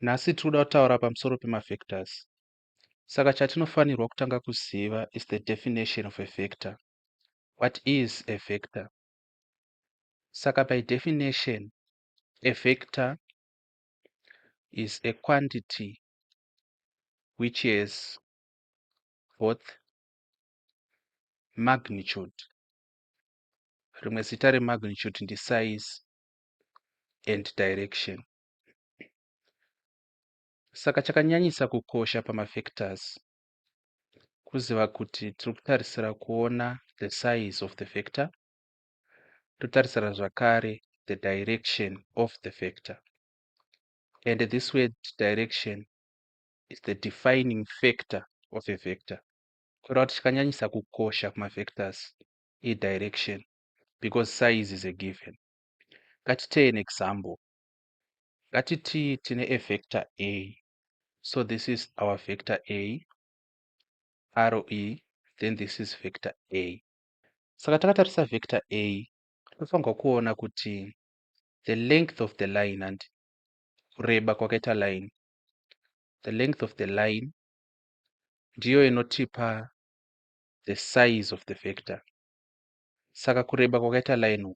Nhasi tiri kuda kutaura pamusoro pemafactors. Saka chatinofanirwa kutanga kuziva is the definition of a factor. What is a factor? Saka by definition, a factor is a quantity which has both magnitude rimwe zita remagnitude ndisize and direction Saka chakanyanyisa kukosha pamafactors kuziva kuti tiri kutarisira kuona the size of the factor totarisira zvakare the direction of the factor and this word direction is the defining factor of a vector kureva kuti chakanyanyisa kukosha kumafactors idirection because size is a given ngatitei an example ngatiti tine a vector a so this is our vector a aro e then this is vector a saka takatarisa vector a tinofanirwa kuona kuti the length of the line and kureba kwakaita line the length of the line ndiyo inotipa the size of the vector saka kureba kwakaita line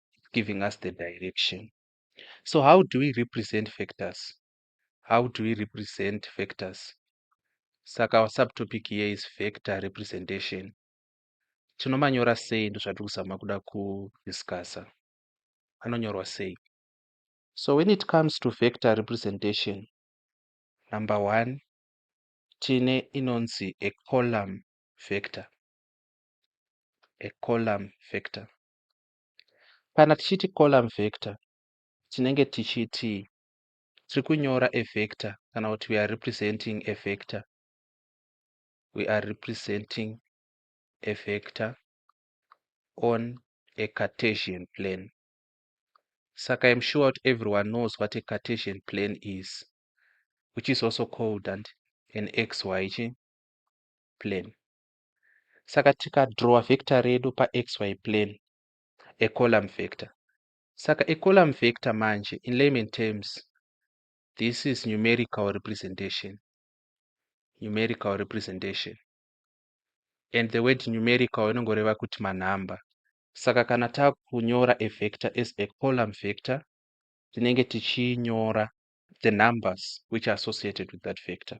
it's giving us the direction so how do we represent factors how do we represent factors saka our subtopic here is factor representation tinomanyora sei ndozvatiri kuzama kuda kudiscussa anonyorwa sei so when it comes to factor representation number one tine inonzi a column factor a column factor Kana tichiti column vector tinenge tichiti tiri kunyora a vector kana kuti we are representing a vector we are representing a vector on a cartesian plane saka im sure kuti everyone knows what a cartesian plane is which is also called and an xy chi plane Saka tikadrowa vector redu paxy plane, a column vector. Saka a column vector manje, in layman terms, this is numerical representation. Numerical representation. And the word numerical inongoreva kuti manhamba. Saka kana takunyora a vector as a column vector, tinenge tichinyora the numbers which are associated with that vector.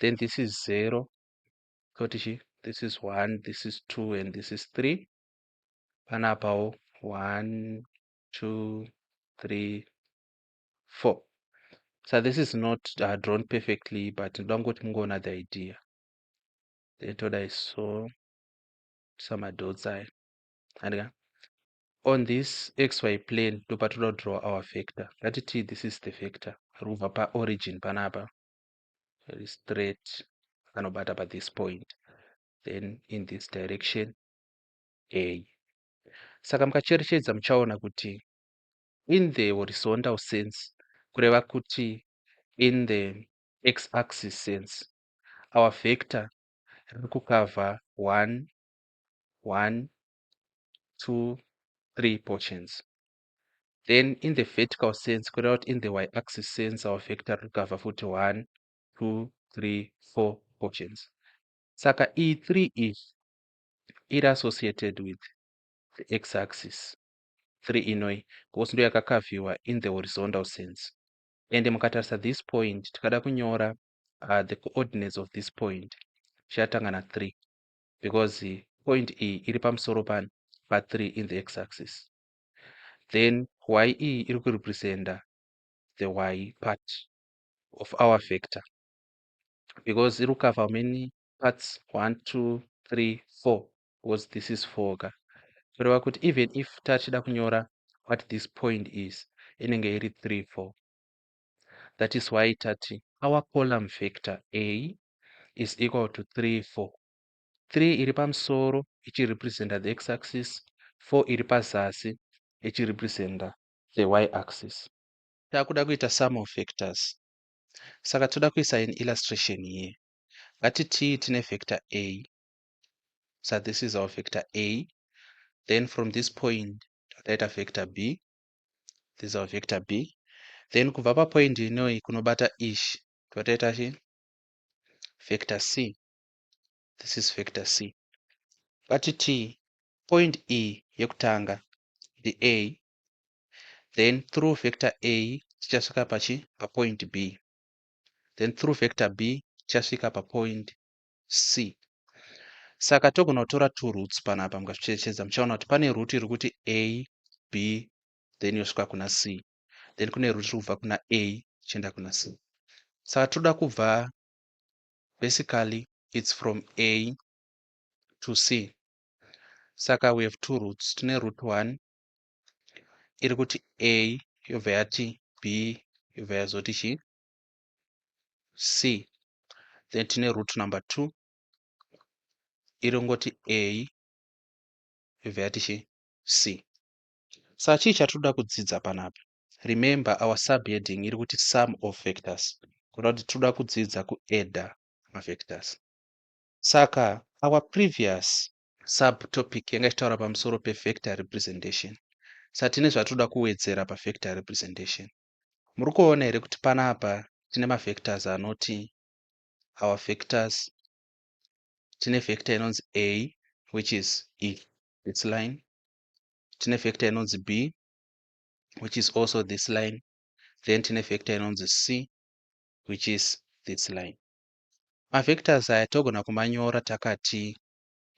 then this is 0 toti chi this is 1 this is 2 and this is 3 panapawo 1 2 3 4 so this is not uh, drawn perfectly but ndoda kungoti mungoona the idea then toda iso samadots ayo andika on this xy plane ndopatoda kudraw our vector ngatiti this is the vector riri kubva paorigin panapa very straight anobata pa this point then in this direction a saka mukacherechedza muchaona kuti in the horizontal sense kureva kuti in the x axis sense our vector riri kukavha 1 1 2 3 portions then in the vertical sense kureva kuti in the y axis sense our vector rikava futi 1 2 3 4 portions saka iyi 3 iyi iri associated with the x axis 3 inoi because ndo yakakavhiwa in the horizontal sense and mukatarisa this point tikada kunyora uh, the coordinates of this point tichatanga na 3 because point iyi iri pamusoro pani pa 3 in the x axis then y iyi iri kurepresenta the y part of our vector because iri kukava how many parts one two three four because this is four ka kureva kuti even if tachida kunyora what this point is inenge iri three four that is why tati our column vector a is equal to three four 3 iri pamusoro ichirepresenta the x-axis, 4 iri pazasi ichirepresenta the y-axis. Takuda kuita sum of vectors saka toda kuisa an illustration here. Ngatitii tine vector a sa this is our vector a then from this point taita vector b this is our vector b then kubva papoint inoyi kunobata ish totaita chi vector c this is factor c but t point e yekutanga ndi a then through factor a tichasvika pachi papoint b then through factor b tichasvika papoint c saka togona kutora two roots panapa mukazvicherechedza muchaona kuti pane root iri kuti a b then yosvika kuna c then kune root iri kubva kuna a ichienda kuna c saka tinoda kubva basically it's from a to c saka we have two roots tine root one iri kuti a yobva yati b yobva yazoti chi c then tine root number two iri kungoti a yobva yati chi c saka chii chatinoda kudzidza panapa remember our subheading iri kuti sum of vectors kureva kuti tinoda kudzidza kuadda mavectors saka our previous subtopic yanga ichitaura pamusoro pevector representation saka tine zvatinoda kuwedzera pavector representation muri kuona here kuti panapa tine mavectors anoti our vectors tine vector inonzi a which is e this line tine vector inonzi b which is also this line then tine vector inonzi c which is this line mavectors aya togona kumanyora takati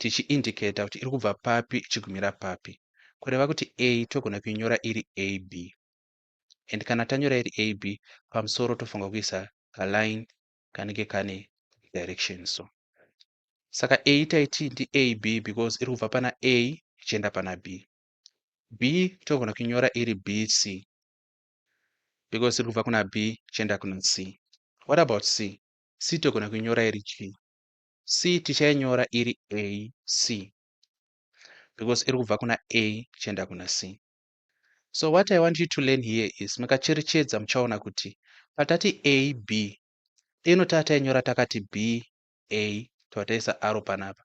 tichiindicator kuti iri kubva papi ichigumira papi kureva kuti a togona kuinyora iri ab and kana tanyora iri ab pamusoro tofanira kuisa kaline kanenge kane direction so saka a taiti ndi ab because iri kubva pana a ichienda pana b B togona kunyora iri BC because tiri kubva kuna B tichienda kuna C. What about C? C togona kunyora iri G. C tichainyora iri AC because iri kubva kuna A tichienda kuna C. So what I want you to learn here is makacherechedza muchaona kuti patati AB ino tatainyora takati BA tawataisa aro panapa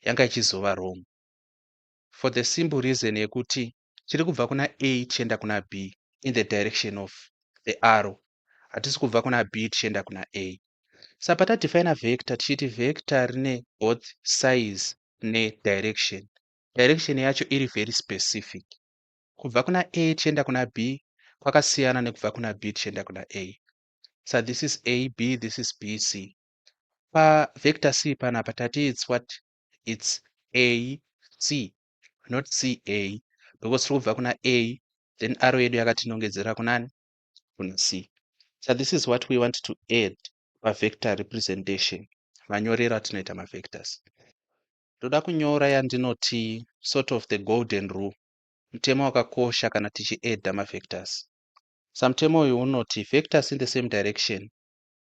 yanga ichizova wrong for the simple reason yekuti chiri kubva kuna a tichienda kuna b in the direction of the arrow hatisi kubva kuna b tichienda kuna a sa patadefina vector tichiti vector rine both size nedirection direction yacho iri very specific kubva kuna a tichienda kuna b kwakasiyana nekubva kuna b tichienda kuna a sa this is a b this is b c pavector c panapa tati its what its AC not CA because tiri kubva kuna A then arrow yedu yakatinongedzera kunani kuna C so this is what we want to add pavector representation manyorero atinoita mavectors ndoda kunyora yandinoti sort of the golden rule mutemo wakakosha kana tichiadda mavectors samutemo uyu unoti vectors in the same direction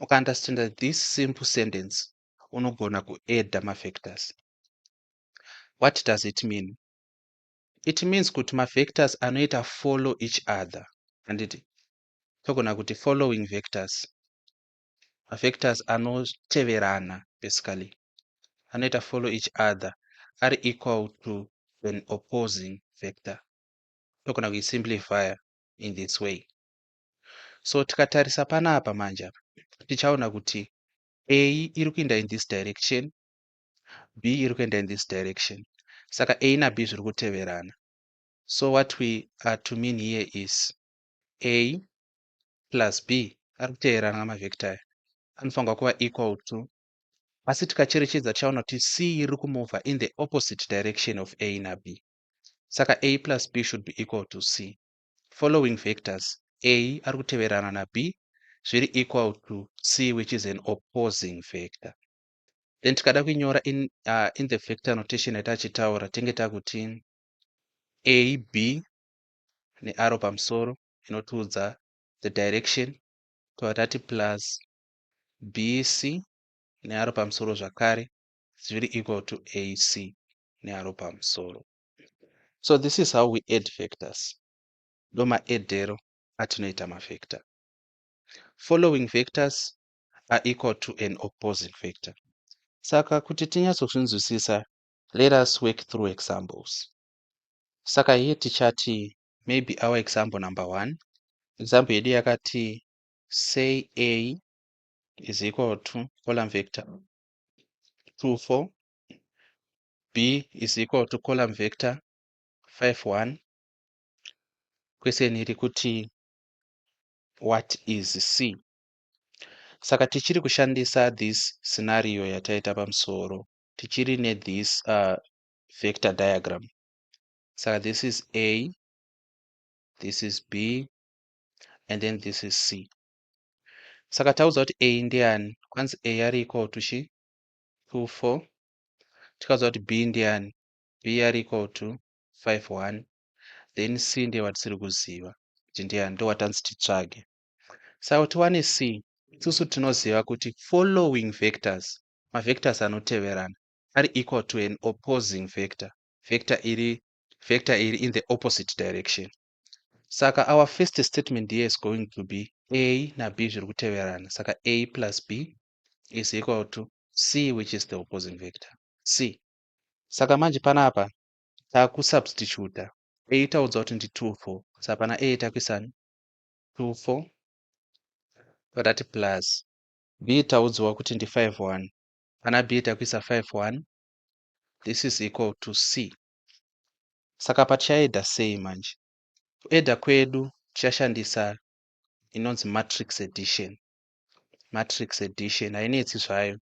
Ukaunderstander this simple sentence unogona kuadda mafactors. What does it mean? It means kuti mavectors anoita follow each other handiti togona kuti following vectors mavectors anoteverana basically anoita follow each other ari equal to an opposing vector togona kuisimplifya in this way so tikatarisa panapa manje apa tichaona kuti a iri kuenda in this direction b iri kuenda in this direction saka a nab zviri kuteverana so what we are to mean here is a plus b ari kuteverana namavhekta aya anofanirwa kuva equal to asi tikacherechedza tichaona kuti c iri kumova in the opposite direction of a nab saka a plus b should be equal to c following vectors A ari kuteverana na B zviri equal to C which is an opposing vector. Then tikada kuinyora in, uh, in the vector notation yati achitaura tenge takuti A, B nearo pamusoro inotiudza the direction tova tati plus B, C nearo pamusoro zvakare zviri equal to A, C nearo pamusoro. so this is how we add factors ndomaedhero atinoita mavector following vectors are equal to an opposing factor saka kuti tinyatsozvinzwisisa let us work through examples saka here tichati maybe our example number one example yedu yakati say a is equal to column vector 2 4 b is equal to column vector 5 1 question iri kuti what is c saka tichiri kushandisa this scenario yataita pamusoro tichiri nethis uh, vector diagram saka this is a this is b and then this is c saka taudzwa kuti a ndiani kwanzi a ari equal to chi 2 4 tikaziva kuti b ndiani b are equal to 5 1 then c ndiye watisiri kuziva kuti ndiani ndowatanzi titsvage saka kuti wane c isusu tinoziva kuti following vectors mavectors anoteverana ari equal to an opposing vector vector iri vector iri in the opposite direction saka our first statement here is going to be a nab zviri kuteverana saka a plus b is equal to c which is the opposing vector c saka manje panapa takusubstituta a itaudza kuti ndi 2 4 saka pana a takuisani 2 4 patati plus b taudziwa kuti ndi 5 1 pana b takuisa 5 1 this is equal to c saka patichaeda sei manje kueda kwedu tichashandisa inonzi matrix edition matrix addition hainetsi zvayo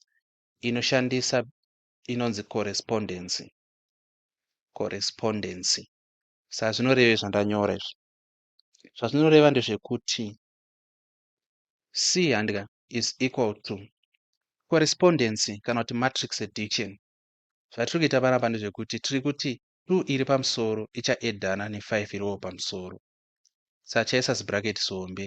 inoshandisa inonzi correspondency correspondency saka zvinoreva zvandanyora izvi zvazvinoreva ndezvekuti c handika is equal to correspondency kana kuti matrix addition zvatiri kuita panapa ndezvekuti tiri kuti 2 iri pamusoro ichaedhana ne5 iriwo pamusoro saka chaisa zibracket zihombe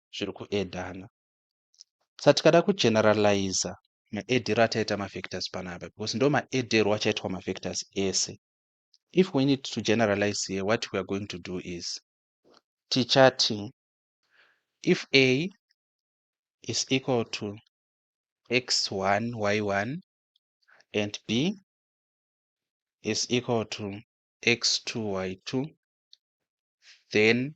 zviri kuedana sa tikada kugeneraliza maedero ataita mafactors panapa because ndo maedero achaitwa mafactors ese if we need to generalize here what we are going to do is tichati if a is equal to x1 y1 and b is equal to x2 y2 then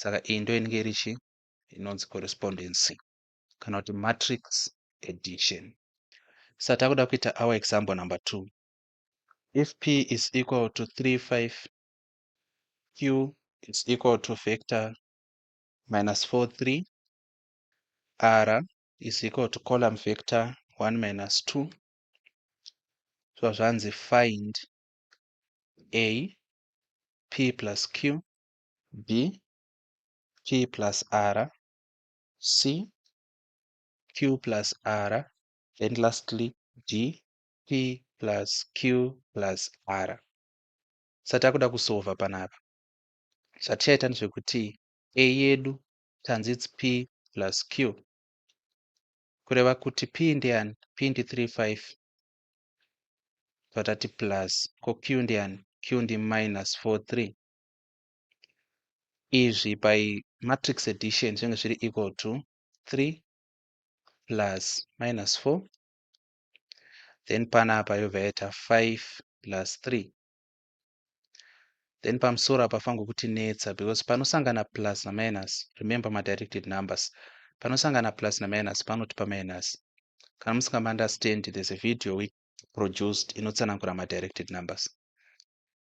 saka iyi ndo inenge iri chi inonzi correspondency kana kuti matrix addition sa takuda kuita our example number two if p is equal to 35 q is equal to vector minus 4 3 r is equal to column vector 1 minus 2 so zvanzi find a p plus q B P plus R C Q plus R then lastly D P plus Q plus R satakuda kusova panapa zvatichaita ndezvekuti A yedu tanzi it's P plus Q kureva kuti P ndeyani P ndi 35 zvatati plus ko Q ndeyani Q ndi minus 43 izvi by matrix addition zvinenge zviri equal to 3 plus minus 4 then panapa yobva yaita 5 plus 3 then pamusoro apa fangu kuti netsa because panosangana plus na minus remember ma directed numbers panosangana plus na minus panoti pa minus kana musinga understand there's a video we produced inotsanangura ma directed numbers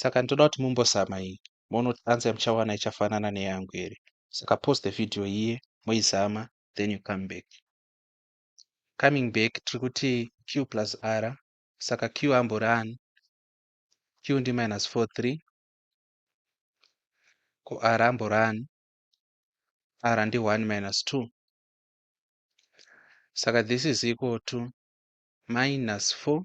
saka ndinoda kuti mumbozama iyi moona kuti answer yamuchawana ichafanana neyangu here saka post the video iye moizama then you come back coming back tiri kuti q plus r saka q ambori ani q ndi minus 4 3 ko r ambori ani r ndi 1 minus 2 saka this is equal to minus 4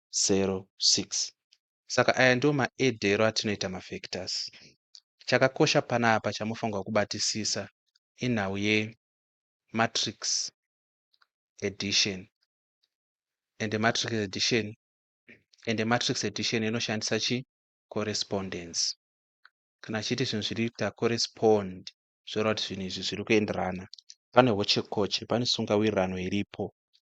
0.06. Saka aya ndiwo maedero atinoita mafactors. Chakakosha panapa chamofanirwa kubatisisa inhau yematrix addition and matrix addition and matrix addition inoshandisa chi correspondence kana achiti zvinhu zviri kuita correspond zvoreva kuti zvinhu izvi zviri kuenderana pane hochekoche pane sungawirirano iripo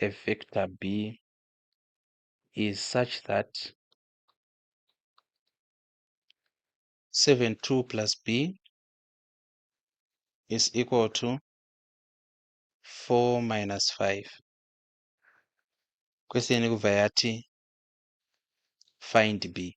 a vector B is such that 72 plus B is equal to 4 minus 5. Question kubva yati find B.